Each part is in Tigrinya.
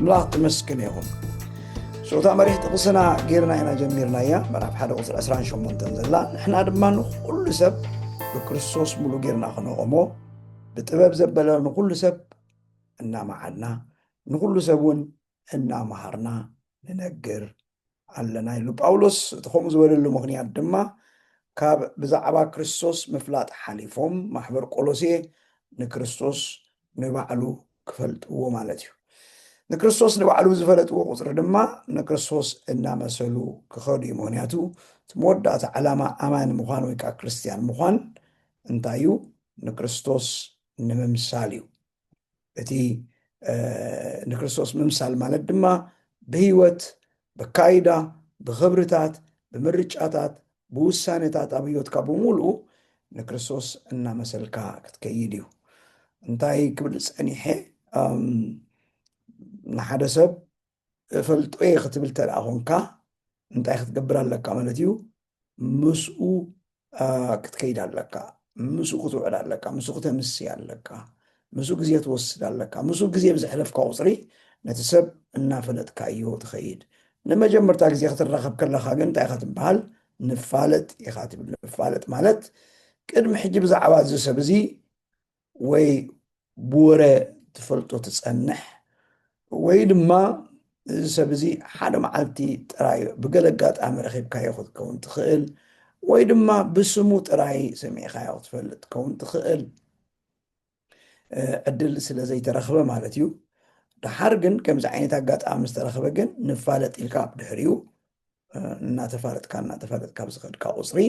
ኣምላኽ ትመስክን ይኹን ሶታ መሪሕ ጥቕስና ጌርና ኢና ጀሚርናያ ምዕራፍ ሓደ ቁፅሪ 28 ዘላ ንሕና ድማ ንኩሉ ሰብ ብክርስቶስ ሙሉ ጌርና ክነቆሞ ብጥበብ ዘበለ ንኩሉ ሰብ እናመዓድና ንኩሉ ሰብ እውን እናመሃርና ንነግር ኣለና ኢሉ ጳውሎስ እቲ ከምኡ ዝበለሉ ምክንያት ድማ ካብ ብዛዕባ ክርስቶስ ምፍላጥ ሓሊፎም ማሕበር ቆሎሴ ንክርስቶስ ንባዕሉ ክፈልጥዎ ማለት እዩ ንክርስቶስ ንባዕሉ ዝፈለጥዎ ቁፅሪ ድማ ንክርስቶስ እናመሰሉ ክኸዱ እዩ ምክንያቱ እቲ መወዳእታ ዕላማ ኣማኒ ምዃን ወይ ከዓ ክርስትያን ምዃን እንታይ እዩ ንክርስቶስ ንምምሳል እዩ እቲ ንክርስቶስ ምምሳል ማለት ድማ ብህይወት ብካይዳ ብክብርታት ብምርጫታት ብውሳኔታት ኣብ ህይወትካ ብምሉኡ ንክርስቶስ እናመሰልካ ክትከይድ እዩ እንታይ ክብል ፀኒሐ ንሓደ ሰብ እፈልጦ'የ ክትብል ተድኣ ኾንካ እንታይ ክትገብር ኣለካ ማለት እዩ ምስኡ ክትከይድ ኣለካ ምስኡ ክትውዕል ኣለካ ምስኡ ክተምስይ ኣለካ ምስኡ ግዜ ትወስድ ኣለካ ምስኡ ግዜ ብዘሕለፍካ ቁፅሪ ነቲ ሰብ እናፈለጥካዮ ትኸይድ ንመጀመርታ ግዜ ክትራኸብ ከለካ ግን እንታይ ኢኻ ትበሃል ንፋለጥ ኢኻ ትብል ንፋለጥ ማለት ቅድሚ ሕጂ ብዛዕባ እዚ ሰብ እዚ ወይ ብወረ ትፈልጦ ትጸንሕ ወይ ድማ እዚ ሰብ እዚ ሓደ መዓልቲ ጥራይ ብገለ ኣጋጣሚ ረኺብካዮ ክትከውን ትኽእል ወይ ድማ ብስሙ ጥራይ ሰሚዕኻዮ ክትፈልጥ ትከውን ትኽእል ዕድል ስለ ዘይተረኽበ ማለት እዩ ደሓር ግን ከምዚ ዓይነት ኣጋጣሚ ዝተረኽበ ግን ንፋለጥ ኢልካ ድሕሪኡ እናተፋለጥካ እናተፋለጥካ ብዝኸድካ ቁፅሪ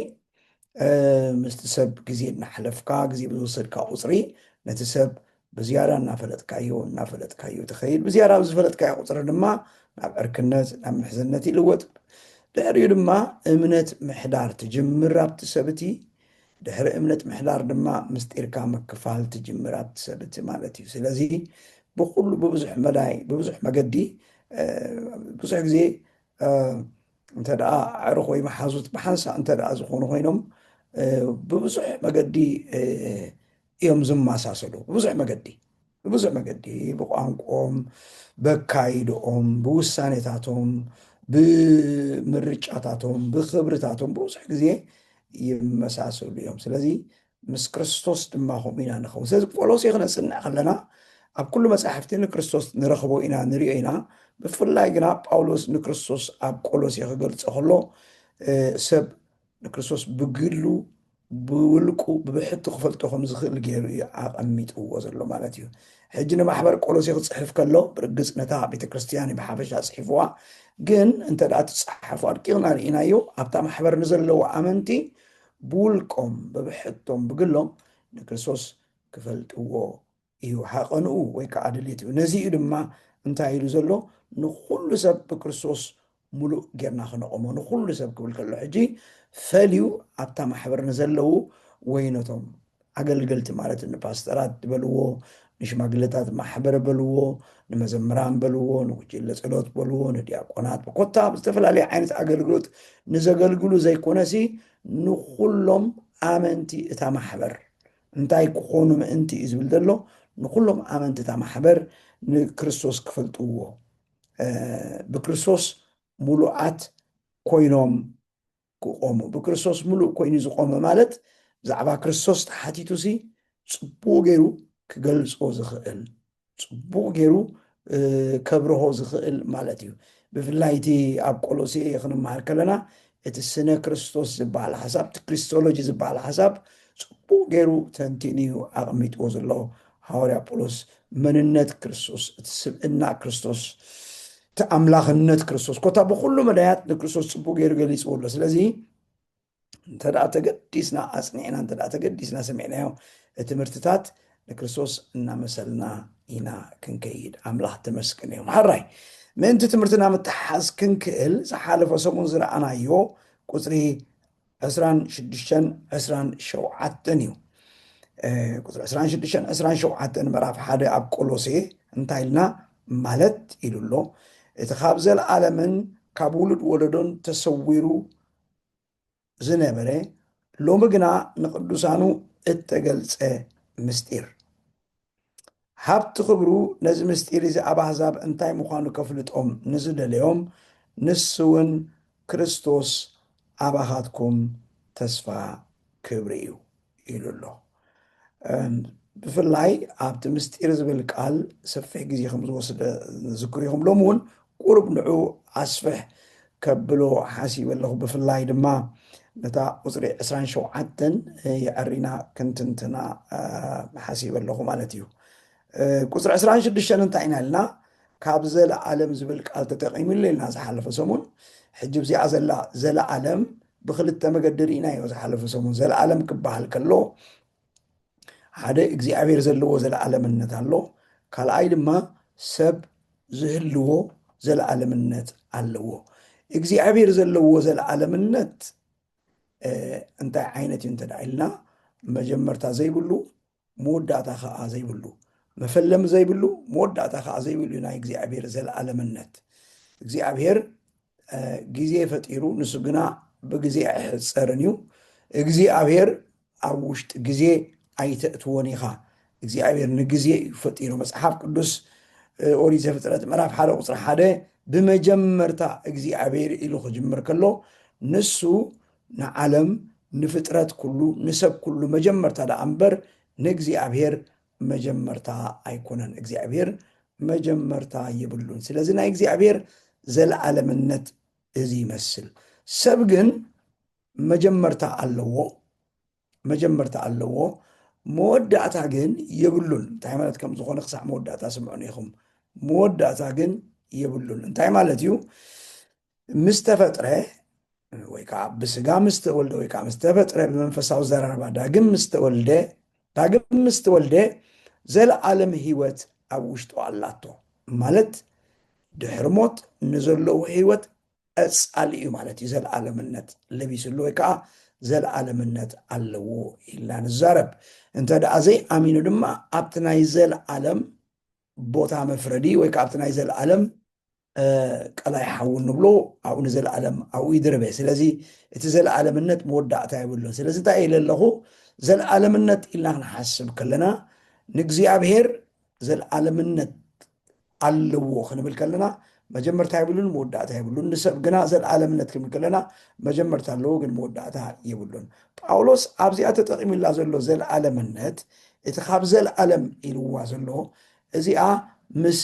ምስቲ ሰብ ግዜ እናሓለፍካ ግዜ ብዝወሰድካ ቁፅሪ ነቲ ሰብ ብዝያዳ እናፈለጥካዮ እናፈለጥካዮ ትኸይድ ብዝያዳ ኣብ ዝፈለጥካዮ ቁፅሪ ድማ ናብ ዕርክነት ናብ ምሕዝነት ይልወጥ ድሕሪኡ ድማ እምነት ምሕዳር ትጅምር ኣብቲ ሰብ እቲ ድሕሪ እምነት ምሕዳር ድማ ምስጢርካ ምክፋል ትጅምር ኣብቲ ሰብ እቲ ማለት እዩ ስለዚ ብኩሉ ብብዙሕ መዳይ ብብዙሕ መገዲ ብዙሕ ግዜ እንተ ደኣ ኣዕሩኽ ወይ መሓዙት ብሓንሳእ እንተ ደኣ ዝኾኑ ኮይኖም ብብዙሕ መገዲ እዮም ዝመሳሰሉ ብብዙሕ መገዲ ብብዙሕ መገዲ ብቋንቆም በካይድኦም ብውሳኔታቶም ብምርጫታቶም ብክብርታቶም ብብዙሕ ግዜ ይመሳሰሉ እዮም ስለዚ ምስ ክርስቶስ ድማ ከምኡ ኢና ንኸውን። ስለዚ ቆሎሴ ክነጽንዕ ከለና ኣብ ኩሉ መጻሕፍቲ ንክርስቶስ ንረኽቦ ኢና ንሪኦ ኢና። ብፍላይ ግና ጳውሎስ ንክርስቶስ ኣብ ቆሎሴ ክገልጾ ከሎ ሰብ ንክርስቶስ ብግሉ ብውልቁ ብብሕቱ ክፈልጦ ከም ዝኽእል ገይሩ እዩ ኣቐሚጥዎ ዘሎ ማለት እዩ። ሕጂ ንማሕበር ቆሎሴ ክጽሕፍ ከሎ ብርግጽ ነታ ቤተ ክርስትያን እዩ ብሓፈሻ ጽሒፍዋ። ግን እንተ ደኣ ትጸሓፉ ኣድቂቕና ርኢናዮ ኣብታ ማሕበር ንዘለዉ ኣመንቲ ብውልቆም ብብሕቶም ብግሎም ንክርስቶስ ክፈልጥዎ እዩ ሃቐንኡ ወይ ከኣ ድሌትኡ። ነዚ እዩ ድማ እንታይ ኢሉ ዘሎ ንኹሉ ሰብ ብክርስቶስ ምሉእ ጌርና ክነቖሞ። ንኹሉ ሰብ ክብል ከሎ ሕጂ ፈልዩ ኣብታ ማሕበር ንዘለዉ ወይ ነቶም ኣገልገልቲ ማለት ንፓስተራት በልዎ፣ ንሽማግለታት ማሕበር በልዎ፣ ንመዘምራን በልዎ፣ ንጉጅለ ጸሎት በልዎ፣ ንድያቆናት ኮታ ኣብ ዝተፈላለየ ዓይነት ኣገልግሎት ንዘገልግሉ ዘይኮነሲ ንኹሎም ኣመንቲ እታ ማሕበር እንታይ ክኾኑ ምእንቲ እዩ ዝብል ዘሎ ንኹሎም ኣመንቲ እታ ማሕበር ንክርስቶስ ክፈልጥዎ ብክርስቶስ ሙሉኣት ኮይኖም ክቖሙ ብክርስቶስ ምሉእ ኮይኑ ዝቖመ ማለት ብዛዕባ ክርስቶስ ተሓቲቱሲ ጽቡቕ ገይሩ ክገልጾ ዝኽእል ጽቡቕ ገይሩ ከብርሆ ዝኽእል ማለት እዩ ብፍላይ እቲ ኣብ ቆሎሴ ክንመሃር ከለና እቲ ስነ ክርስቶስ ዝበሃል ሓሳብ እቲ ክሪስቶሎጂ ዝበሃል ሓሳብ ፅቡቅ ገይሩ ተንቲኑ እዩ ኣቕሚጥዎ ዘሎ ሃዋርያ ጳውሎስ መንነት ክርስቶስ እቲ ስብእና ክርስቶስ እቲ ኣምላኽነት ክርስቶስ ኮታ ብኩሉ መዳያት ንክርስቶስ ፅቡቅ ገይሩ ገሊፅዎ ኣሎ ስለዚ እንተ ተገዲስና ኣፅኒዕና እንተ ተገዲስና ሰሚዕናዮ እቲ ትምህርትታት ንክርስቶስ እናመሰልና ኢና ክንከይድ ኣምላኽ ተመስገን እዮም ሓራይ ምእንቲ ትምህርትና ምትሓዝ ክንክእል ዝሓለፈ ሰሙን ዝረኣናዮ ቁፅሪ ዕስራን ሽዱሽተን ዕስራን ሸውዓተን እዩ ቁፅሪ ዕስራን ሽዱሽተን ዕስራን ሸውዓተን ምዕራፍ ሓደ ኣብ ቆሎሴ እንታይ ኢልና ማለት ኢሉ ኣሎ እቲ ካብ ዘለዓለምን ካብ ውሉድ ወለዶን ተሰዊሩ ዝነበረ ሎሚ ግና ንቅዱሳኑ እተገልፀ ምስጢር ሃብቲ ክብሩ ነዚ ምስጢር እዚ ኣብ ኣሕዛብ እንታይ ምዃኑ ከፍልጦም ንዝደለዮም ንሱውን ክርስቶስ ኣባኻትኩም ተስፋ ክብሪ እዩ ኢሉ ኣሎ። ብፍላይ ኣብቲ ምስጢር ዝብል ቃል ሰፊሕ ግዜ ከም ዝወስደ ንዝክር ኢኹም። ሎሚ እውን ቁሩብ ንዑ ኣስፍሕ ከብሎ ሓሲበ ኣለኹ ብፍላይ ድማ ነታ ቁጽሪ ዕስራን ሸውዓተን የዐሪና ክንትንትና ሓሲበ ኣለኹ ማለት እዩ ቁጽሪ ዕስራን ሽዱሽተን እንታይ ኢና ኢልና ካብ ዘለዓለም ዝብል ቃል ተጠቂሙ ኢልና ዝሓለፈ ሰሙን ሕጂ ብዚኣ ዘላ ዘለዓለም ብክልተ መገዲ ርኢናዮ ዝሓለፈ ሰሙን ዘለዓለም ክበሃል ከሎ ሓደ እግዚኣብሔር ዘለዎ ዘለዓለምነት ኣሎ ካልኣይ ድማ ሰብ ዝህልዎ ዘለዓለምነት ኣለዎ እግዚኣብሔር ዘለዎ ዘለዓለምነት እንታይ ዓይነት እዩ እንተደኣ ኢልና መጀመርታ ዘይብሉ መወዳእታ ከዓ ዘይብሉ መፈለሚ ዘይብሉ መወዳእታ ከዓ ዘይብሉ እዩ ናይ እግዚኣብሔር ዘለዓለምነት እግዚኣብሔር ግዜ ፈጢሩ ንሱ ግና ብግዜ ኣይሕፀርን እዩ እግዚኣብሔር ኣብ ውሽጢ ግዜ ኣይተእትዎን ኢኻ እግዚኣብሔር ንግዜ እዩ ፈጢሩ መፅሓፍ ቅዱስ ኦሪት ዘፍጥረት ምዕራፍ ሓደ ቁፅሪ ሓደ ብመጀመርታ እግዚኣብሔር ኢሉ ክጅምር ከሎ ንሱ ንዓለም ንፍጥረት ኩሉ ንሰብ ኩሉ መጀመርታ ደኣ እምበር ንእግዚኣብሔር መጀመርታ ኣይኮነን እግዚኣብሔር መጀመርታ የብሉን ስለዚ ናይ እግዚኣብሔር ዘለዓለምነት እዚ ይመስል ሰብ ግን መጀመርታ ኣለዎ መጀመርታ ኣለዎ መወዳእታ ግን የብሉን እንታይ ማለት ከም ዝኾነ ክሳዕ መወዳእታ ስምዑን ኢኹም መወዳእታ ግን የብሉን እንታይ ማለት እዩ ምስ ተፈጥረ ወይ ከዓ ብስጋ ምስ ተወልደ ወይ ከዓ ምስ ተፈጥረ ብመንፈሳዊ ዘረባ ዳግም ምስ ተወልደ ዳግም ምስ ተወልደ ዘለዓለም ህይወት ኣብ ውሽጡ ኣላቶ ማለት ድሕሪ ሞት ንዘለዉ ህይወት ቀጻሊ እዩ ማለት እዩ ዘለዓለምነት ለቢስሉ ወይ ከዓ ዘለዓለምነት ኣለዎ ኢልና ንዛረብ እንተ ደኣ ዘይኣሚኑ ድማ ኣብቲ ናይ ዘለዓለም ቦታ መፍረዲ ወይ ከዓ ኣብቲ ናይ ዘለዓለም ቀላይ ሓዊ ንብሎ ኣብኡ ንዘለኣለም ኣብኡ ይድርበ ስለዚ እቲ ዘለኣለምነት መወዳእታ የብሉን ስለዚ እንታይ ኢለ ኣለኹ ዘለኣለምነት ኢልና ክንሓስብ ከለና ንእግዚኣብሔር ዘለኣለምነት ኣለዎ ክንብል ከለና መጀመርታ የብሉን መወዳእታ የብሉን ንሰብ ግና ዘለኣለምነት ክንብል ከለና መጀመርታ ኣለዎ ግን መወዳእታ የብሉን ጳውሎስ ኣብዚኣ ተጠቂሙላ ዘሎ ዘለኣለምነት እቲ ካብ ዘለኣለም ኢልዋ ዘሎ እዚኣ ምስ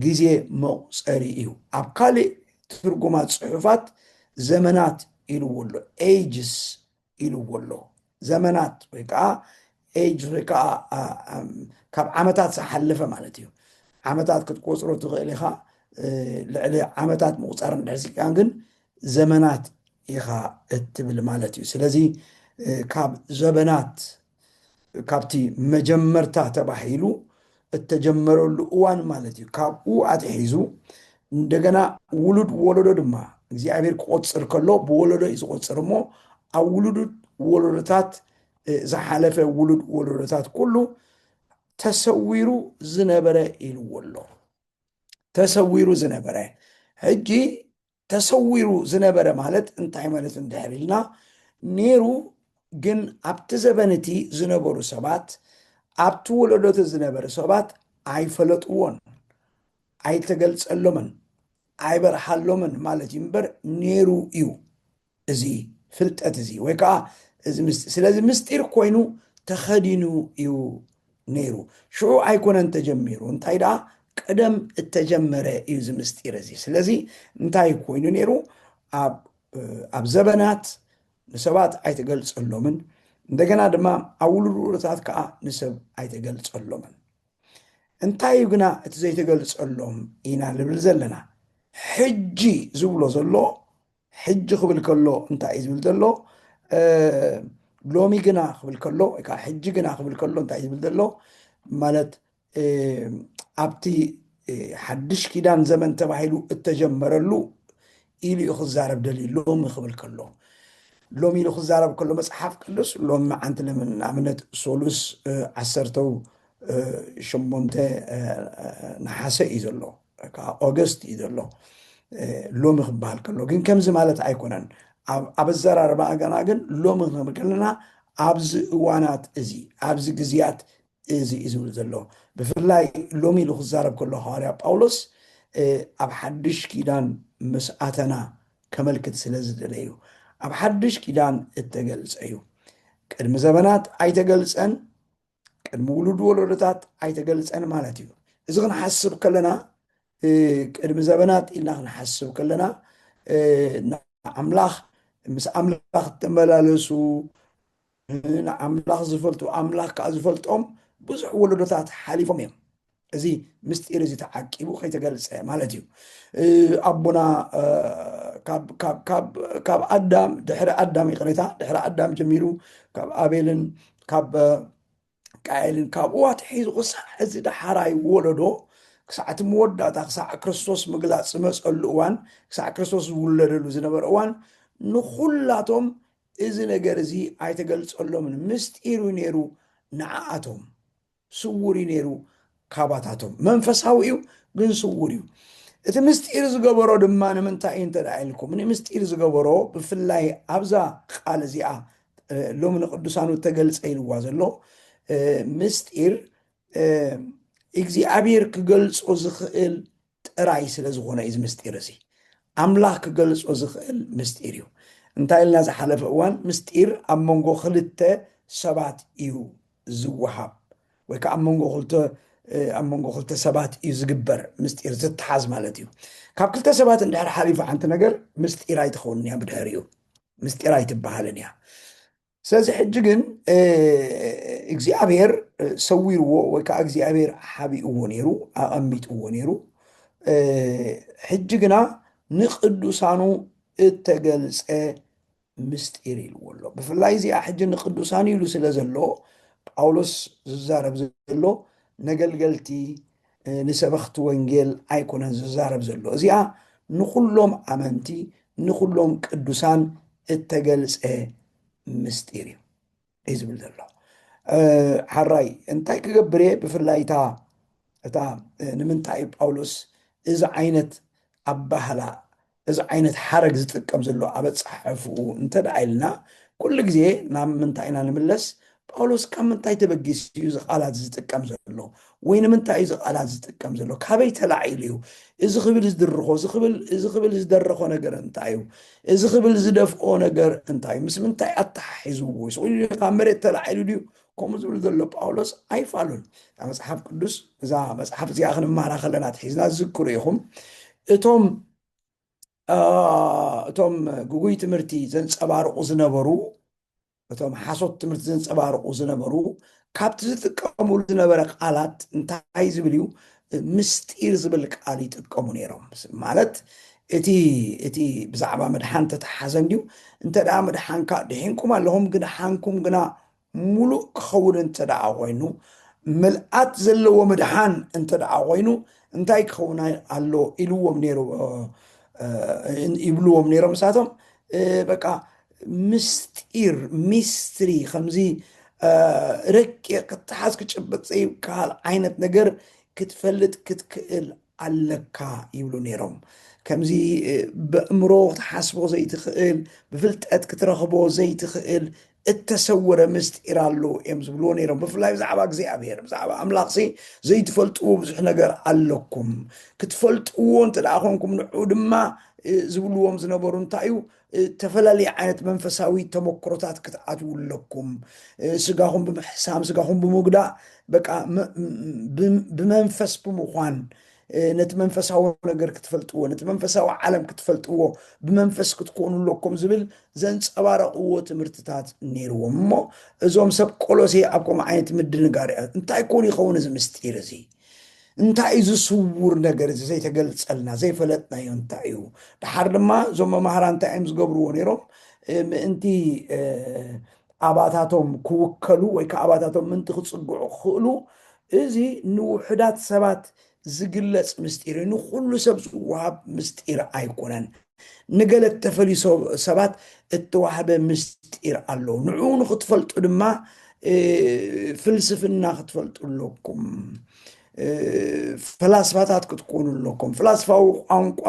ግዜ መቑጸሪ እዩ። ኣብ ካልእ ትርጉማት ጽሑፋት ዘመናት ኢልዎ ኣሎ፣ ages ኢልዎ ኣሎ። ዘመናት ወይ ከኣ ages ወይ ከኣ ካብ ዓመታት ዝሓለፈ ማለት እዩ። ዓመታት ክትቆጽሮ ትኽእል ኢኻ፣ ልዕሊ ዓመታት ምቑጻር እንድሕር ስኢንካ ግን ዘመናት ኢኻ እትብል ማለት እዩ። ስለዚ ካብ ዘበናት ካብቲ መጀመርታ ተባሂሉ እተጀመረሉ እዋን ማለት እዩ፣ ካብኡ ኣትሒዙ እንደገና ውሉድ ወለዶ ድማ እግዚኣብሔር ክቆፅር ከሎ ብወለዶ እዩ ዝቆፅር እሞ ኣብ ውሉድ ወለዶታት ዝሓለፈ ውሉድ ወለዶታት ኩሉ ተሰዊሩ ዝነበረ ኢልዎ ኣሎ ተሰዊሩ ዝነበረ ሕጂ ተሰዊሩ ዝነበረ ማለት እንታይ ማለት እዩ እንድሕር ኢልና ነይሩ ግን ኣብቲ ዘበን እቲ ዝነበሩ ሰባት ኣብቲ ወለዶቲ ዝነበሩ ሰባት ኣይፈለጥዎን ኣይተገልጸሎምን ኣይበርሃሎምን ማለት እዩ እምበር ነይሩ እዩ እዚ ፍልጠት እዚ ወይ ከዓ እዚ ምስጢር ስለዚ ምስጢር ኮይኑ ተኸዲኑ እዩ ነይሩ ሽዑ ኣይኮነን ተጀሚሩ እንታይ ደኣ ቀደም እተጀመረ እዩ እዚ ምስጢር እዚ ስለዚ እንታይ ኮይኑ ነይሩ ኣብ ዘበናት ንሰባት ኣይተገልጸሎምን እንደገና ድማ ኣብ ውሉድ ከዓ ንሰብ ኣይተገልጸሎምን እንታይ እዩ ግና እቲ ዘይተገልጸሎም ኢና ንብል ዘለና ሕጂ ዝብሎ ዘሎ ሕጂ ክብል ከሎ እንታይ እዩ ዝብል ዘሎ ሎሚ ግና ክብል ከሎ ወይ ከዓ ሕጂ ግና ክብል ከሎ እንታይ እዩ ዝብል ዘሎ ማለት ኣብቲ ሓድሽ ኪዳን ዘመን ተባሂሉ እተጀመረሉ ኢሉ እዩ ክዛረብ ደልዩ ሎሚ ክብል ከሎ ሎሚ ኢሉ ክዛረብ ከሎ መፅሓፍ ቅዱስ ሎሚ መዓንቲ ንኣብነት ሶሉስ ዓሰርተው ሸሞንተ ነሓሰ እዩ ዘሎ ከዓ ኦገስት እዩ ዘሎ ሎሚ ክበሃል ከሎ ግን ከምዚ ማለት ኣይኮነን ኣብ ኣዘራርባ ገና ግን ሎሚ ክንብል ከለና ኣብዚ እዋናት እዚ ኣብዚ ግዜያት እዚ እዩ ዝብል ዘሎ ብፍላይ ሎሚ ኢሉ ክዛረብ ከሎ ሃዋርያ ጳውሎስ ኣብ ሓድሽ ኪዳን ምስ ኣተና ከመልክት ስለ ዝደለዩ ኣብ ሓድሽ ኪዳን እተገልጸ እዩ ቅድሚ ዘበናት ኣይተገልጸን ቅድሚ ውሉድ ወለዶታት ኣይተገልፀን ማለት እዩ እዚ ክንሓስብ ከለና ቅድሚ ዘበናት ኢልና ክንሓስብ ከለና ንኣምላኽ ምስ ኣምላኽ እተመላለሱ ንኣምላኽ ዝፈልጡ ኣምላኽ ከዓ ዝፈልጦም ብዙሕ ወለዶታት ሓሊፎም እዮም እዚ ምስጢር እዚ ተዓቂቡ ከይተገልፀ ማለት እዩ ኣቦና ካብ ኣዳም ድሕሪ ኣዳም ይቅሬታ ድሕሪ ኣዳም ጀሚሩ ካብ ኣቤልን ካብ ቃኤልን ካብኡ ኣትሒዙ ክሳዕ እዚ ዳሓራይ ወለዶ ክሳዕ እቲ መወዳእታ ክሳዕ ክርስቶስ ምግላፅ ዝመፀሉ እዋን ክሳዕ ክርስቶስ ዝውለደሉ ዝነበረ እዋን ንኩላቶም እዚ ነገር እዚ ኣይተገልፀሎምን ምስጢር እዩ ነይሩ ንዓኣቶም ስውር እዩ ነይሩ ካባታቶም መንፈሳዊ እዩ ግን ስውር እዩ እቲ ምስጢር ዝገበሮ ድማ ንምንታይ እዩ እንተ ኢልኩም ንምስጢር ዝገበሮ ብፍላይ ኣብዛ ቃል እዚኣ ሎሚ ንቅዱሳኑ ተገልፀ ኢልዋ ዘሎ ምስጢር እግዚኣብሔር ክገልፆ ዝኽእል ጥራይ ስለ ዝኾነ እዩ እዚ ምስጢር እዚ ኣምላኽ ክገልጾ ዝኽእል ምስጢር እዩ እንታይ ኢልና ዝሓለፈ እዋን ምስጢር ኣብ መንጎ ክልተ ሰባት እዩ ዝወሃብ ወይ ከዓ ኣብ መንጎ ክልተ ኣብ መንጎ ክልተ ሰባት እዩ ዝግበር ምስጢር ዝተሓዝ ማለት እዩ ካብ ክልተ ሰባት እንድሕር ሓሊፉ ሓንቲ ነገር ምስጢር ኣይትኸውን እያ ብድሕሪኡ ምስጢር ኣይትበሃልን እያ ስለዚ ሕጂ ግን እግዚኣብሔር ሰዊርዎ ወይ ከዓ እግዚኣብሔር ሓቢእዎ ነይሩ ኣቐሚጥዎ ነይሩ ሕጂ ግና ንቅዱሳኑ እተገልፀ ምስጢር ኢልዎ ኣሎ ብፍላይ እዚኣ ሕጂ ንቅዱሳን ኢሉ ስለ ዘሎ ጳውሎስ ዝዛረብ ዘሎ ነገልገልቲ ንሰበኽቲ ወንጌል ኣይኮነን ዝዛረብ ዘሎ እዚኣ ንኹሎም ኣመንቲ ንኹሎም ቅዱሳን እተገልጸ ምስጢር እዩ እዩ ዝብል ዘሎ ሓራይ እንታይ ክገብር እየ ብፍላይ እታ እታ ንምንታይ እዩ ጳውሎስ እዚ ዓይነት ኣባህላ እዚ ዓይነት ሓረግ ዝጥቀም ዘሎ ኣብ ኣጸሓሕፍኡ እንተ ደኣ ኢልና፣ ኩሉ ግዜ ናብ ምንታይ ኢና ንምለስ? ጳውሎስ ካብ ምንታይ ተበጊሱ እዩ እዚ ቃላት ዝጥቀም ዘሎ? ወይ ንምንታይ እዩ እዚ ቃላት ዝጥቀም ዘሎ? ካበይ ተላዒሉ እዩ እዚ ክብል ዝድርኾ? እዚ ክብል እዚ ክብል ዝደረኾ ነገር እንታይ እዩ? እዚ ክብል ዝደፍኦ ነገር እንታይ እዩ? ምስ ምንታይ ኣተሓሒዝዎ? ስቕ ኢሉ ድዩ? ካብ መሬት ተላዒሉ ድዩ? ከምኡ ዝብል ዘሎ ጳውሎስ ኣይፋሉን እታ መጽሓፍ ቅዱስ እዛ መጽሓፍ እዚኣ ክንማራ ከለና ትሒዝና ዝዝክሩ ኢኹም እቶም እቶም ግጉይ ትምህርቲ ዘንፀባርቁ ዝነበሩ እቶም ሓሶት ትምህርቲ ዘንፀባርቁ ዝነበሩ ካብቲ ዝጥቀሙሉ ዝነበረ ቃላት እንታይ ዝብል እዩ ምስጢር ዝብል ቃል ይጥቀሙ ነይሮም ማለት እቲ እቲ ብዛዕባ ምድሓን ተተሓዘ እንድዩ እንተ ደኣ ምድሓንካ ድሒንኩም ኣለኹም ግን ሓንኩም ግና ምሉእ ክኸውን እንተደኣ ኾይኑ፣ ምልኣት ዘለዎ ምድሓን እንተደኣ ኾይኑ እንታይ ክኸውን ኣሎ ኢልዎም ነይሩ ይብልዎም ነይሮም ንሳቶም በቃ ምስጢር ሚስትሪ ከምዚ ረቂቕ ክትሓዝ ክጭበጥ ዘይከሃል ዓይነት ነገር ክትፈልጥ ክትክእል ኣለካ ይብሉ ነይሮም። ከምዚ በእምሮ ክትሓስቦ ዘይትኽእል ብፍልጠት ክትረኽቦ ዘይትኽእል እተሰወረ ምስጢር ኣሎ እዮም ዝብልዎ ነይሮም ብፍላይ ብዛዕባ እግዚኣብሔር ብዛዕባ ኣምላኽሲ ዘይትፈልጥዎ ብዙሕ ነገር ኣለኩም ክትፈልጥዎ እንተ ደኣ ኮንኩም ንዑ ድማ ዝብልዎም ዝነበሩ እንታይ እዩ እተፈላለየ ዓይነት መንፈሳዊ ተመክሮታት ክትኣትዉ ኣለኩም። ስጋኹም ብምሕሳም ስጋኹም ብምጉዳእ በቃ ብመንፈስ ብምዃን ነቲ መንፈሳዊ ነገር ክትፈልጥዎ ነቲ መንፈሳዊ ዓለም ክትፈልጥዎ ብመንፈስ ክትኮኑ ኣለኩም ዝብል ዘንፀባረቕዎ ትምህርትታት ነይርዎም እሞ እዞም ሰብ ቆሎሴ ኣብ ከምኡ ዓይነት ምድንጋር እንታይ ኮን ይኸውን እዚ ምስጢር እዚ እንታይ እዩ እዚ ስውር ነገር እዚ ዘይተገልጸልና ዘይፈለጥናዮ እንታይ እዩ ድሓር ድማ እዞም መማህራ እንታይ እዮም ዝገብርዎ ነይሮም ምእንቲ ኣባታቶም ክውከሉ ወይ ከዓ ኣባታቶም ምንቲ ክፅግዑ ክኽእሉ እዚ ንውሑዳት ሰባት ዝግለፅ ምስጢር እዩ ንኩሉ ሰብ ዝወሃብ ምስጢር ኣይኮነን ንገለ እተፈልዩ ሰባት እተዋህበ ምስጢር ኣሎ፣ ንዕኡ ንኽትፈልጡ ድማ ፍልስፍና ክትፈልጡ ኣለኩም፣ ፈላስፋታት ክትኮኑ ኣለኩም፣ ፍላስፋዊ ቋንቋ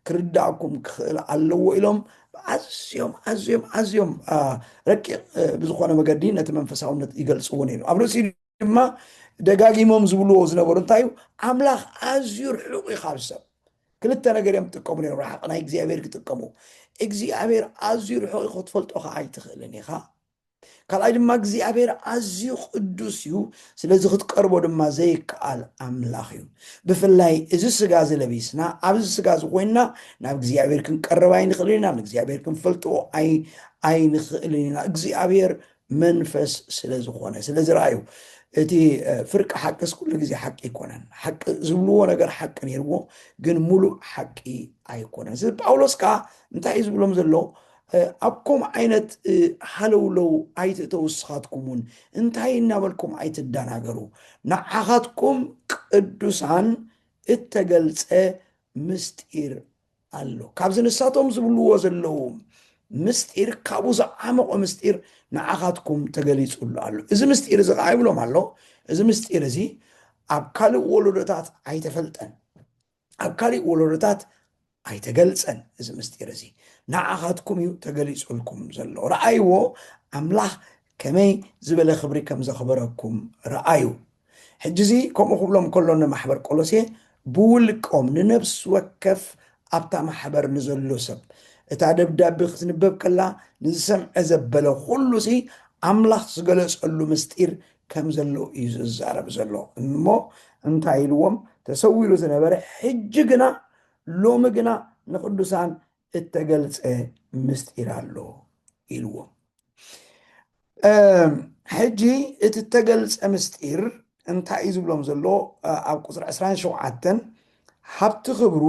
ክርዳእኩም ክኽእል ኣለዎ ኢሎም ኣዝዮም ኣዝዮም ኣዝዮም ረቂቕ ብዝኾነ መገዲ ነቲ መንፈሳውነት ይገልጽዎ ነይሩ ኣብ ርእሲ ድማ ደጋጊሞም ዝብልዎ ዝነበሩ እንታይ እዩ ኣምላኽ ኣዝዩ ርሑቕ እዩ ካብ ሰብ ክልተ ነገር እዮም ዝጥቀሙ ነይሩ ርሓቕ ናይ እግዚኣብሔር ክጥቀሙ እግዚኣብሔር ኣዝዩ ርሑቕ እዩ ክትፈልጦ ከዓ ኣይትኽእልን ኢኻ ካልኣይ ድማ እግዚኣብሔር ኣዝዩ ቅዱስ እዩ ስለዚ ክትቀርቦ ድማ ዘይከኣል ኣምላኽ እዩ ብፍላይ እዚ ስጋ እዚ ለቢስና ኣብዚ ስጋ እዚ ኮይንና ናብ እግዚኣብሔር ክንቀርብ ኣይንኽእልን ኢና ንእግዚኣብሔር ክንፈልጥዎ ኣይንኽእልን ኢና እግዚኣብሔር መንፈስ ስለ ዝኾነ ስለ ዝረኣዩ እቲ ፍርቂ ሓቅስ ኩሉ ግዜ ሓቂ ኣይኮነን ሓቂ ዝብልዎ ነገር ሓቂ ነይርዎ ግን ሙሉእ ሓቂ ኣይኮነን ስለ ጳውሎስ ከዓ እንታይ እዩ ዝብሎም ዘሎ ኣብ ከምኡ ዓይነት ሃለውለው ኣይትእተው እስኻትኩም እውን እንታይ እናበልኩም ኣይትደናገሩ ንዓኻትኩም ቅዱሳን እተገልፀ ምስጢር ኣሎ ካብዚ ንሳቶም ዝብልዎ ዘለዉ ምስጢር ካብኡ ዝዓመቖ ምስጢር ንዓኻትኩም ተገሊጹሉ ኣሎ እዚ ምስጢር እዚ ከዓ ይብሎም ኣሎ እዚ ምስጢር እዚ ኣብ ካልእ ወለዶታት ኣይተፈልጠን ኣብ ካሊእ ወለዶታት ኣይተገልጸን እዚ ምስጢር እዚ ንዓኻትኩም እዩ ተገሊጹልኩም ዘሎ ረኣይዎ ኣምላኽ ከመይ ዝበለ ክብሪ ከም ዘኽበረኩም ርኣዩ። ሕጂዚ ከምኡ ክብሎም ከሎ ንማሕበር ቆሎሴ ብውልቆም ንነብሲ ወከፍ ኣብታ ማሕበር ንዘሎ ሰብ እታ ደብዳቤ ክትንበብ ከላ ንዝሰምዐ ዘበለ ኩሉሲ ኣምላኽ ዝገለጸሉ ምስጢር ከም ዘሎ እዩ ዝዛረብ ዘሎ እሞ እንታይ ኢልዎም ተሰዊሩ ዝነበረ ሕጂ ግና ሎሚ ግና ንቅዱሳን እተገልጸ ምስጢር ኣሎ ኢልዎም። ሕጂ እቲ እተገልጸ ምስጢር እንታይ እዩ ዝብሎም ዘሎ? ኣብ ቁፅሪ 27 ሃብቲ ክብሩ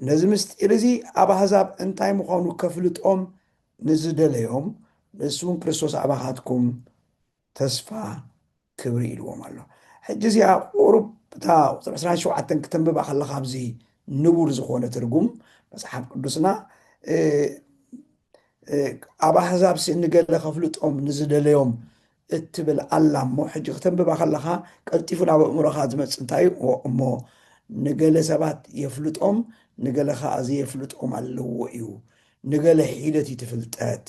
ነዚ ምስጢር እዚ ኣብ ኣህዛብ እንታይ ምዃኑ ከፍልጦም ንዝደለዮም ንሱ እውን ክርስቶስ ኣባኻትኩም ተስፋ ክብሪ ኢልዎም ኣሎ ሕጂ እዚኣ ቁሩብ እታ ቁጽሪ ዕስራን ሸውዓተን ክተንብባ ከለካ ኣብዚ ንቡር ዝኮነ ትርጉም መጽሓፍ ቅዱስና ኣብ ኣህዛብ ሲ ንገለ ከፍልጦም ንዝደለዮም እትብል ኣላ እሞ ሕጂ ክተንብባ ከለካ ቀልጢፉ ናብ ኣእምሮካ ዝመፅ እንታይ እዩ እሞ ንገለ ሰባት የፍልጦም ንገለ ከዓ ዘየፍልጦም ኣለዎ እዩ ንገለ ሒደት እዩ ትፍልጠት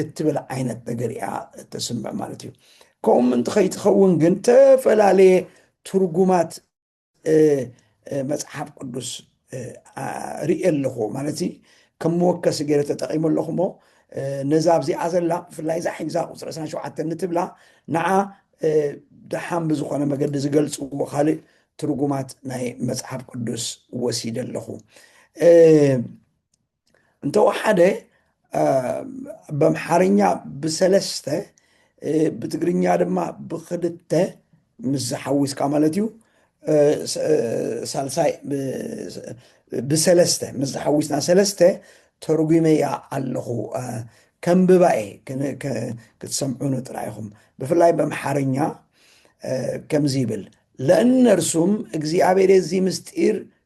እትብል ዓይነት ነገር እያ እተስምዕ ማለት እዩ። ከምኡ ምእንቲ ከይትኸውን ግን ተፈላለየ ትርጉማት መጽሓፍ ቅዱስ ርእየ ኣለኹ ማለት እዩ ከም መወከሲ ገይረ ተጠቂሙ ኣለኹ እሞ ነዛ ኣብዚኣ ዘላ ብፍላይ እዛ ሒዛ ቁፅሪ 27 ንትብላ ንዓ ደሓን ብዝኾነ መገዲ ዝገልፅዎ ካልእ ትርጉማት ናይ መፅሓፍ ቅዱስ ወሲደ ኣለኹ እንተወሓደ በምሓርኛ ብሰለስተ ብትግርኛ ድማ ብክልተ ምስ ዝሓዊስካ ማለት እዩ ሳልሳይ ብሰለስተ ምስ ዝሓዊስና ሰለስተ ተርጒመያ ኣለኹ ከንብባ እየ ክትሰምዑኑ ጥራይ ኢኹም ብፍላይ በምሓርኛ ከምዚ ይብል ለእነርሱም እግዚኣብሔር የዚ ምስጢር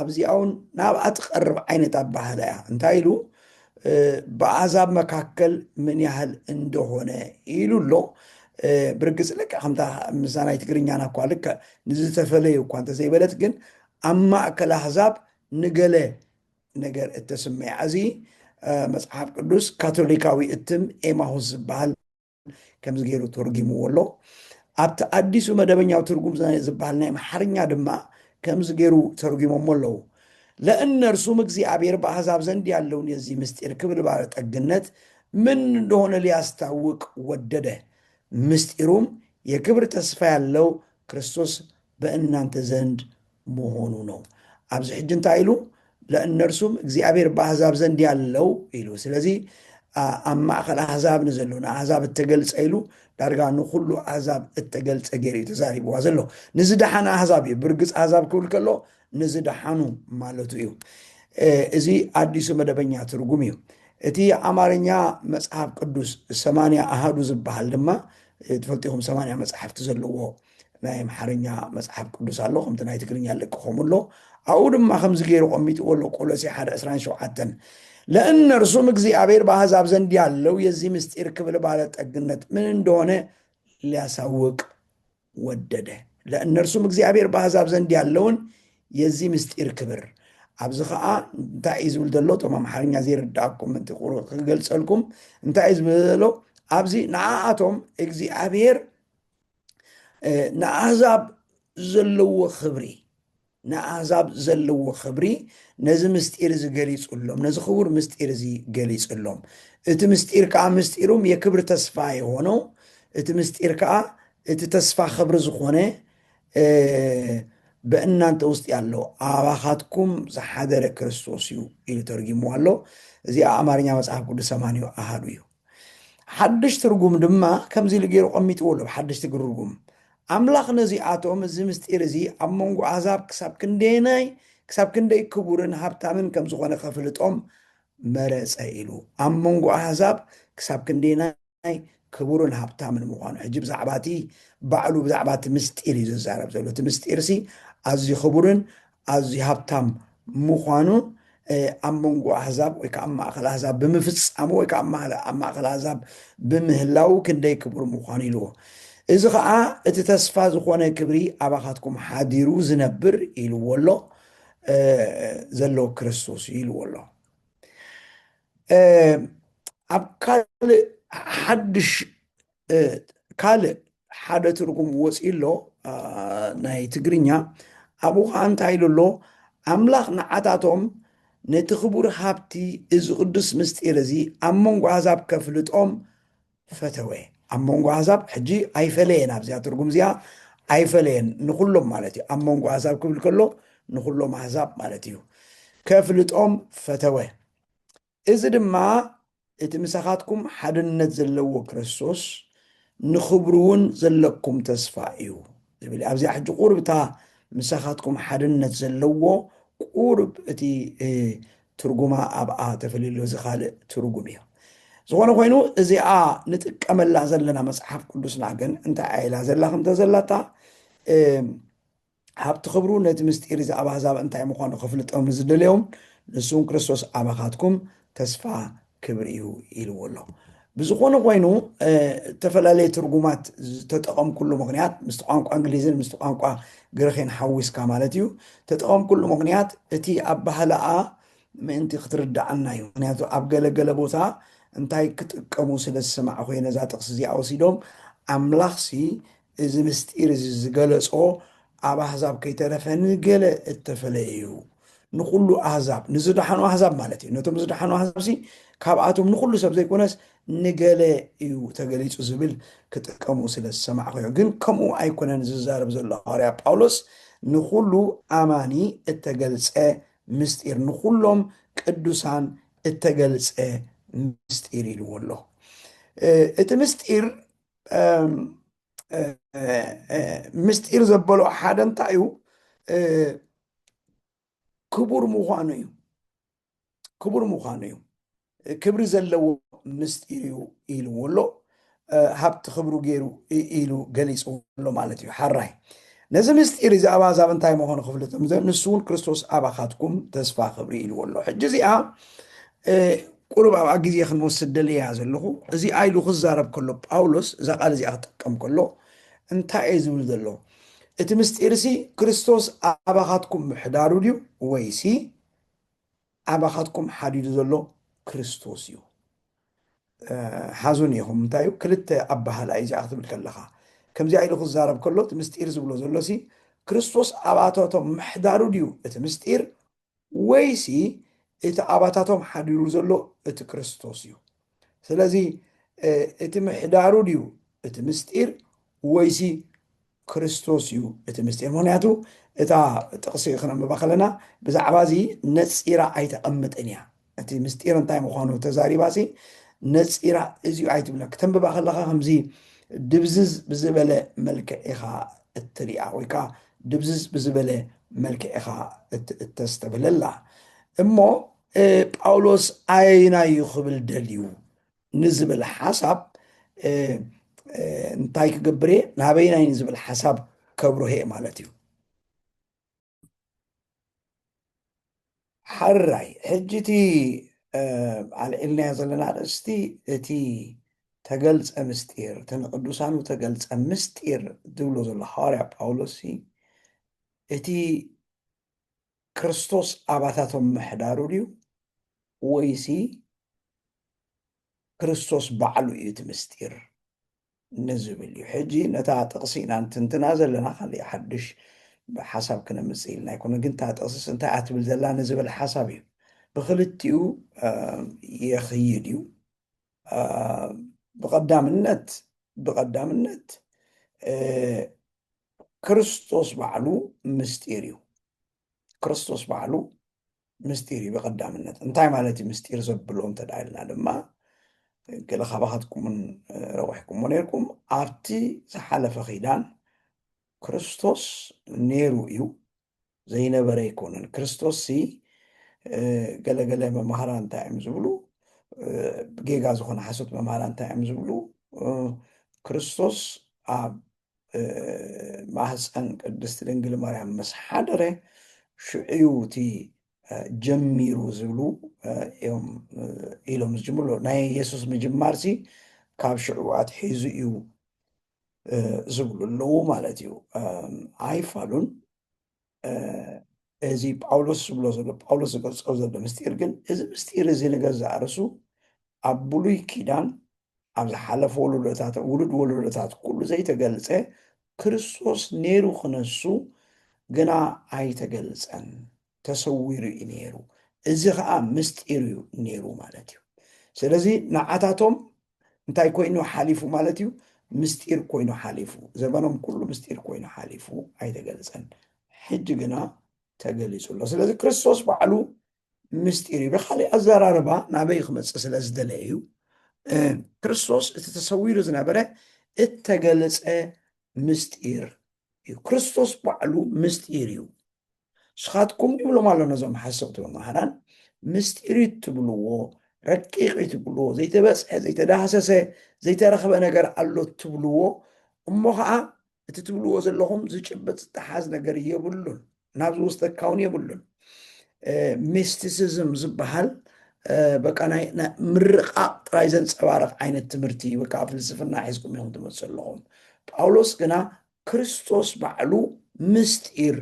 ኣብዚኣውን ናብኣ ትቐርብ ዓይነት ኣባህላ እያ እንታይ ኢሉ ብኣዛብ መካከል ምን ያህል እንደሆነ ኢሉ ኣሎ ብርግፅ ልክ ከምታ ምዛ ናይ ትግርኛና እኳ ልክ ንዝተፈለዩ እኳ እንተዘይበለት ግን ኣብ ማእከል ኣህዛብ ንገለ ነገር እተስመያ እዚ መፅሓፍ ቅዱስ ካቶሊካዊ እትም ኤማሁስ ዝበሃል ከምዚ ገይሩ ተርጒምዎ ኣሎ። ኣብቲ ኣዲሱ መደበኛው ትርጉም ዝበሃል ናይ ኣምሓርኛ ድማ ከምዚ ገይሩ ተርጒሞሞ ኣለዉ። ለእነርሱም እግዚአብሔር በአሕዛብ ዘንድ ያለውን የዚህ ምስጢር ክብል ባለጠግነት ምን እንደሆነ ሊያስታውቅ ወደደ። ምስጢሩም የክብር ተስፋ ያለው ክርስቶስ በእናንተ ዘንድ ምሆኑ ነው ኣብዚ ሕጂ እንታይ ኢሉ ለእነርሱም እግዚኣብሔር በአሕዛብ ዘንድ ያለው ኢሉ ስለዚ ኣብ ማእኸል ኣሕዛብ ንዘሎ ንኣሕዛብ እተገልፀ ኢሉ ዳርጋ ንኩሉ ኣሕዛብ እተገልፀ ገይሩ እዩ ተዛሪብዋ ዘሎ ንዝደሓነ ኣሕዛብ እዩ ብርግፅ ኣሕዛብ ክብል ከሎ ንዝደሓኑ ማለቱ እዩ እዚ ኣዲሱ መደበኛ ትርጉም እዩ እቲ ኣማርኛ መፅሓፍ ቅዱስ ሰማንያ ኣሃዱ ዝበሃል ድማ ትፈልጢኹም ሰማንያ መፅሓፍቲ ዘለዎ ናይ ኣምሓርኛ መጽሓፍ ቅዱስ ኣሎ ከምቲ ናይ ትግርኛ ለቅኸሙ ኣሎ ኣብኡ ድማ ከምዚ ገይሩ ቆሚጥዎ ኣሎ ቆሎሴ ሓደ ዕስራን ሸውዓተን ለእነርሱም እግዚኣብሔር በአሕዛብ ዘንድ ያለው የዚህ ምስጢር ክብል ባለጠግነት ምን እንደሆነ ሊያሳውቅ ወደደ ለእነርሱም እግዚኣብሔር በአሕዛብ ዘንድ ያለውን የዚህ ምስጢር ክብር ኣብዚ ከዓ እንታይ እዩ ዝብል ዘሎ እቶም ኣምሓርኛ ዘይርዳእኩም ምንቲ ክገልፀልኩም እንታይ እዩ ዝብል ዘሎ ኣብዚ ንዓኣቶም እግዚኣብሔር ንኣህዛብ ዘለዎ ክብሪ ንኣህዛብ ዘለዎ ክብሪ ነዚ ምስጢር እዚ ገሊፅሎም ነዚ ክቡር ምስጢር እዚ ገሊፅሎም እቲ ምስጢር ከዓ ምስጢሩም የክብር ተስፋ የሆነው እቲ ምስጢር ከዓ እቲ ተስፋ ክብሪ ዝኾነ በእናንተ ውስጥ ያለው አባኻትኩም ዝሓደረ ክርስቶስ እዩ ኢሉ ተርጊሞ ኣሎ እዚኣ ኣማርኛ መጽሓፍ ቅዱስ ሰማንዮ ኣሃዱ እዩ ሓድሽ ትርጉም ድማ ከምዚ ኢሉ ገይሩ ኣቐሚጥዎ ኣሎ፣ ኣብ ሓድሽ ትግርጉም፣ ኣምላኽ ነዚኣቶም፣ እዚ ምስጢር እዚ ኣብ መንጎ ኣህዛብ ክሳብ ክንደየናይ ክሳብ ክንደይ ክቡርን ሃብታምን ከም ዝዀነ ኼፍልጦም መረጸ ኢሉ። ኣብ መንጎ ኣህዛብ ክሳብ ክንደየናይ ክቡርን ሃብታምን ምዃኑ። ሕጂ ብዛዕባ እቲ ባዕሉ ብዛዕባ እቲ ምስጢር እዩ ዝዛረብ ዘሎ። እቲ ምስጢርሲ ኣዝዩ ክቡርን ኣዝዩ ሃብታም ምዃኑ ኣብ መንጎ ኣህዛብ ወይ ከዓ ኣብ ማእኸል ኣህዛብ ብምፍፃሙ ወይ ከዓ ኣብ ማእኸል ኣህዛብ ብምህላው ክንደይ ክቡር ምዃኑ ኢልዎ እዚ ከዓ እቲ ተስፋ ዝኾነ ክብሪ ኣባኻትኩም ሓዲሩ ዝነብር ኢልዎ ኣሎ ዘሎ ክርስቶስ እዩ ኢልዎ ኣሎ ኣብ ካልእ ሓድሽ ካልእ ሓደ ትርጉም ወፂኡ ኣሎ ናይ ትግርኛ ኣብኡ ከዓ እንታይ ኢሉ ኣሎ ኣምላኽ ንዓታቶም ነቲ ክቡር ሃብቲ እዚ ቅዱስ ምስጢር እዚ ኣብ መንጎ ኣሕዛብ ከፍልጦም ፈተወ ኣብ መንጎ ኣሕዛብ ሕጂ ኣይፈለየን ኣብዚኣ ትርጉም እዚኣ ኣይፈለየን ንኩሎም ማለት እዩ ኣብ መንጎ ኣሕዛብ ክብል ከሎ ንኩሎም ኣሕዛብ ማለት እዩ ከፍልጦም ፈተወ እዚ ድማ እቲ ምሳኻትኩም ሓድነት ዘለዎ ክርስቶስ ንኽብሩውን ዘለኩም ተስፋ እዩ ዝብል እዩ። ኣብዚኣ ሕጂ ቁሩብ እታ ምሳኻትኩም ሓድነት ዘለዎ ቁሩብ እቲ ትርጉማ ኣብኣ ተፈልዩሎ እዚ ካልእ ትርጉም እዩ። ዝኾነ ኮይኑ እዚኣ ንጥቀመላ ዘለና መጽሓፍ ቅዱስና ግን እንታይ ኢላ ዘላ ከምተ ዘላታ ሃብቲ ክብሩ ነቲ ምስጢር እዚ ኣብ ኣሕዛብ እንታይ ምዃኑ ከፍልጦም ንዝደለዮም ንሱውን ክርስቶስ ኣባኻትኩም ተስፋ ክብሪ እዩ ኢልዎ ኣሎ ብዝኾነ ኮይኑ እተፈላለየ ትርጉማት ዝተጠቐምኩሉ ምክንያት ምስቲ ቋንቋ እንግሊዝን ምስቲ ቋንቋ ግርኼን ሓዊስካ ማለት እዩ ተጠቐምኩሉ ምክንያት እቲ ኣብ ባህላኣ ምእንቲ ክትርዳዓና እዩ ምክንያቱ ኣብ ገለገለ ቦታ እንታይ ክጥቀሙ ስለ ዝሰማዕ ኮይ ነዛ ጥቕሲ እዚኣ ወሲዶም ኣምላኽሲ እዚ ምስጢር እዚ ዝገለጾ ኣብ ኣሕዛብ ከይተረፈ ንገለ እተፈለየ እዩ ንኹሉ ኣህዛብ ንዝደሓኑ ኣህዛብ ማለት እዩ ነቶም ዝደሓኑ ኣህዛብ ሲ ካብኣቶም ንኹሉ ሰብ ዘይኮነስ ንገለ እዩ ተገሊጹ ዝብል ክጥቀሙ ስለ ዝሰማዕኸዮ ግን ከምኡ ኣይኮነን ዝዛረብ ዘሎ ሃዋርያ ጳውሎስ ንኹሉ ኣማኒ እተገልጸ ምስጢር ንኹሎም ቅዱሳን እተገልጸ ምስጢር ኢልዎ ኣሎ እቲ ምስጢር ምስጢር ዘበሎ ሓደ እንታይ እዩ ክቡር ምዃኑ እዩ ክቡር ምዃኑ እዩ ክብሪ ዘለዎ ምስጢር እዩ ኢልዎ ኣሎ ሃብቲ ክብሩ ገይሩ ኢሉ ገሊፅዎ ኣሎ ማለት እዩ ሓራይ ነዚ ምስጢር እዚ ኣብ ኣዛብ እንታይ ምዃኑ ክፍልጥ ንሱ እውን ክርስቶስ ኣባኻትኩም ተስፋ ክብሪ ኢልዎ ኣሎ ሕጂ እዚኣ ቁሩብ ኣብኣ ግዜ ክንወስድ ደልየያ ዘለኹ። እዚ ኢሉ ክዛረብ ከሎ ጳውሎስ እዛ ቃል እዚኣ ክጥቀም ከሎ እንታይ እየ ዝብል ዘሎ? እቲ ምስጢርሲ ክርስቶስ ኣባኻትኩም ምሕዳሩ ድዩ ወይሲ ኣባኻትኩም ሓዲሩ ዘሎ ክርስቶስ እዩ? ሓዙኒ ኢኹም እንታይ እዩ ክልተ ኣበሃህላ እዩ እዚኣ ክትብል ከለኻ ከምዚኣ ኢሉ ክዛረብ ከሎ እቲ ምስጢር ዝብሎ ዘሎሲ ክርስቶስ ኣባታቶም ምሕዳሩ ድዩ እቲ ምስጢር ወይሲ እቲ ኣባታቶም ሓዲሩ ዘሎ እቲ ክርስቶስ እዩ? ስለዚ እቲ ምሕዳሩ ድዩ እቲ ምስጢር ወይሲ ክርስቶስ እዩ እቲ ምስጢር? ምክንያቱ እታ ጥቕሲ ክነንብባ ከለና ብዛዕባ እዚ ነፂራ ኣይተቐምጥን እያ። እቲ ምስጢር እንታይ ምዃኑ ተዛሪባሲ ነፂራ እዚዩ ኣይትብለ ክተንብባ ከለኻ ከምዚ ድብዝዝ ብዝበለ መልክዕ ኢኻ እትሪኣ ወይ ከዓ ድብዝዝ ብዝበለ መልክዕ ኢኻ እተስተብህለላ እሞ ጳውሎስ ኣየናይ እዩ ክብል ደልዩ ንዝብል ሓሳብ እንታይ ክገብር እየ ናበይናይ ንዝብል ሓሳብ ከብርህ ማለት እዩ ሓራይ ሕጂ እቲ ኣልዒልናዮ ዘለና ኣርእስቲ እቲ ተገልፀ ምስጢር እቲ ንቅዱሳኑ ተገልፀ ምስጢር ዝብሎ ዘሎ ሃዋርያ ጳውሎስ እቲ ክርስቶስ ኣባታቶም ምሕዳሩ ድዩ ወይሲ ክርስቶስ ባዕሉ እዩ እቲ ምስጢር ንዝብል እዩ። ሕጂ ነታ ጥቕሲ ኢና ንትንትና ዘለና፣ ካልእ ሓድሽ ሓሳብ ክነምጽእ ኢልና ኣይኮነን፣ ግን እታ ጥቕስስ እንታይ እያ ትብል ዘላ ንዝብል ሓሳብ እዩ። ብኽልቲኡ የኽይድ እዩ። ብቐዳምነት ብቐዳምነት ክርስቶስ ባዕሉ ምስጢር እዩ። ክርስቶስ ባዕሉ ምስጢር እዩ ብቀዳምነት እንታይ ማለት እዩ ምስጢር ዘብሎ እንተ ኢልና ድማ ገለ ካባኻትኩምን ረዊሕኩሞ ነርኩም ኣብቲ ዝሓለፈ ኺዳን ክርስቶስ ነይሩ እዩ ዘይነበረ ኣይኮነን ክርስቶስ ሲ ገለገለ መማህራ እንታይ እዮም ዝብሉ ጌጋ ዝኾነ ሓሶት መማህራ እንታይ እዮም ዝብሉ ክርስቶስ ኣብ ማህፀን ቅድስቲ ድንግል ማርያም ምስ ሓደረ ሽዑዩ እቲ ጀሚሩ ዝብሉ እዮም ኢሎም ዝጅምሩ ናይ የሱስ ምጅማር ሲ ካብ ሽዑ ኣትሒዙ እዩ ዝብሉ ኣለዉ ማለት እዩ። ኣይፋሉን እዚ ጳውሎስ ዝብሎ ዘሎ ጳውሎስ ዝገልጾ ዘሎ ምስጢር ግን እዚ ምስጢር እዚ ንገዛእ ርእሱ ኣብ ብሉይ ኪዳን ኣብ ዝሓለፈ ወለዶታት ውሉድ ወለዶታት ኩሉ ዘይተገልጸ ክርስቶስ ነይሩ ክነሱ ግና ኣይተገልጸን ተሰዊሩ እዩ ነይሩ እዚ ከዓ ምስጢር እዩ ነይሩ ማለት እዩ ስለዚ ንዓታቶም እንታይ ኮይኑ ሓሊፉ ማለት እዩ? ምስጢር ኮይኑ ሓሊፉ። ዘበኖም ኩሉ ምስጢር ኮይኑ ሓሊፉ ኣይተገልጸን። ሕጂ ግና ተገሊጹ ኣሎ። ስለዚ ክርስቶስ ባዕሉ ምስጢር እዩ። ብካሊእ ኣዘራርባ ናበይ ክመጽእ ስለ ዝደለየ እዩ ክርስቶስ እቲ ተሰዊሩ ዝነበረ እተገለጸ ምስጢር እዩ። ክርስቶስ ባዕሉ ምስጢር እዩ። ንስኻትኩም ይብሎም ኣሎ ነዞም ሓሰውቲ መማህራን ምስጢር ትብልዎ ረቂቕ ትብልዎ ዘይተበፅሐ ዘይተዳህሰሰ ዘይተረኽበ ነገር ኣሎ ትብልዎ እሞ ከዓ እቲ ትብልዎ ዘለኹም ዝጭበጥ ዝተሓዝ ነገር የብሉን ናብዚ ውስጥ ካውን የብሉን ሚስቲሲዝም ዝበሃል በቃ ናይ ምርቃቕ ጥራይ ዘንፀባርቕ ዓይነት ትምህርቲ እዩ በቃ ፍልስፍና ሒዝኩም እዮም ትመፅእ ኣለኹም ጳውሎስ ግና ክርስቶስ ባዕሉ ምስጢር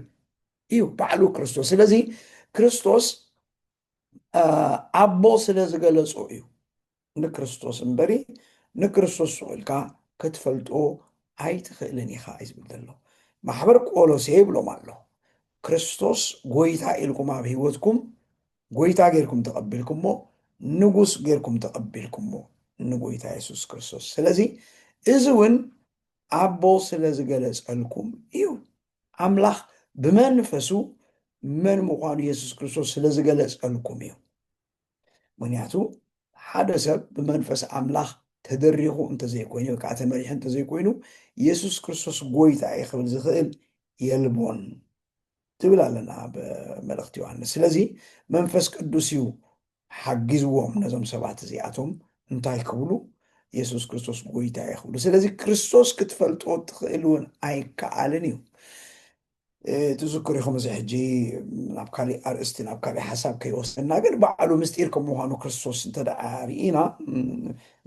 እዩ ባዕሉ ክርስቶስ ስለዚ ክርስቶስ ኣቦ ስለ ዝገለጾ እዩ ንክርስቶስ እምበሪ ንክርስቶስ ስቁኢልካ ክትፈልጦ ኣይትኽእልን ኢኻ እዩ ዝብል ዘሎ ማሕበር ቆሎሴ ይብሎም ኣሎ ክርስቶስ ጎይታ ኢልኩም ኣብ ህይወትኩም ጎይታ ጌርኩም ተቐቢልኩሞ ንጉስ ጌርኩም ተቐቢልኩሞ ንጎይታ የሱስ ክርስቶስ ስለዚ እዚ እውን ኣቦ ስለ ዝገለጸልኩም እዩ። ኣምላኽ ብመንፈሱ መን ምዃኑ የሱስ ክርስቶስ ስለ ዝገለጸልኩም እዩ። ምክንያቱ ሓደ ሰብ ብመንፈስ ኣምላኽ ተደሪኹ እንተዘይኮይኑ ወይ ከዓ ተመሪሑ እንተዘይኮይኑ የሱስ ክርስቶስ ጎይታ እዩ ክብል ዝኽእል የልቦን። ትብል ኣለና ኣብ መልእኽቲ ዮሃንስ ስለዚ መንፈስ ቅዱስ እዩ ሓጊዝዎም ነዞም ሰባት እዚኣቶም እንታይ ክብሉ የሱስ ክርስቶስ ጎይታ እዩ ክብሉ ስለዚ ክርስቶስ ክትፈልጦ ትኽእል እውን ኣይከኣልን እዩ ትዝክሩ ኢኹም እዚ ሕጂ ናብ ካሊእ ኣርእስቲ ናብ ካሊእ ሓሳብ ከይወስደና ግን ባዕሉ ምስጢር ከም ምዃኑ ክርስቶስ እንተደኣ ርኢና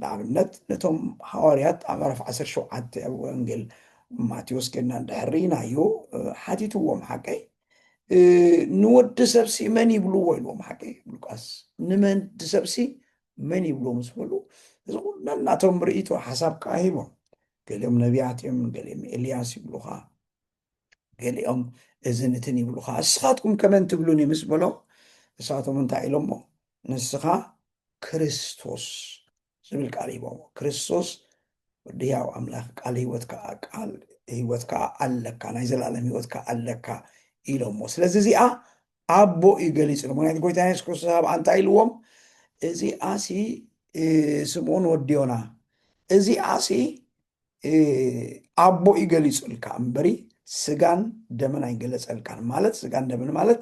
ንኣብነት ነቶም ሃዋርያት ኣብ ዕረፍ ዓሰርተ ሸውዓተ ኣብ ወንጌል ማቴዎስ ግን እንድሕር ርኢናዮ ሓቲትዎም ሓቀይ ንወዲ ሰብሲ መን ይብልዎ ኢልዎም ሓቀይ ሉቃስ ንመን ድሰብሲ መን ይብልዎ ምስ በሉ እዚ ኩሉ ነናቶም ርእይቶ ሓሳብ ከዓ ሂቦም ገሊኦም ነቢያት እዮም ገሊኦም ኤልያስ ይብሉኻ ገሊኦም እዝን እትን ይብሉኻ እስኻትኩም ከመን ትብሉኒ ምስ በሎም እሳቶም እንታይ ኢሎሞ ንስኻ ክርስቶስ ዝብል ቃል ሂቦሞ ክርስቶስ ወዲ ህያው ኣምላኽ ቃል ህይወት ከዓ ቃል ህይወት ከዓ ኣለካ ናይ ዘላለም ህይወት ከዓ ኣለካ ኢሎሞ ስለዚ እዚኣ ኣቦ እዩ ገሊጹ ምክንያቱ ጎይታ የሱስ ክርስቶስ ኣብኣ እንታይ ኢልዎም እዚኣሲ ስምኦን ወዲዮና እዚኣሲ ኣቦ እዩ ገሊጹልካ እምበሪ ስጋን ደምን ኣይገለጸልካን ማለት ስጋን ደምን ማለት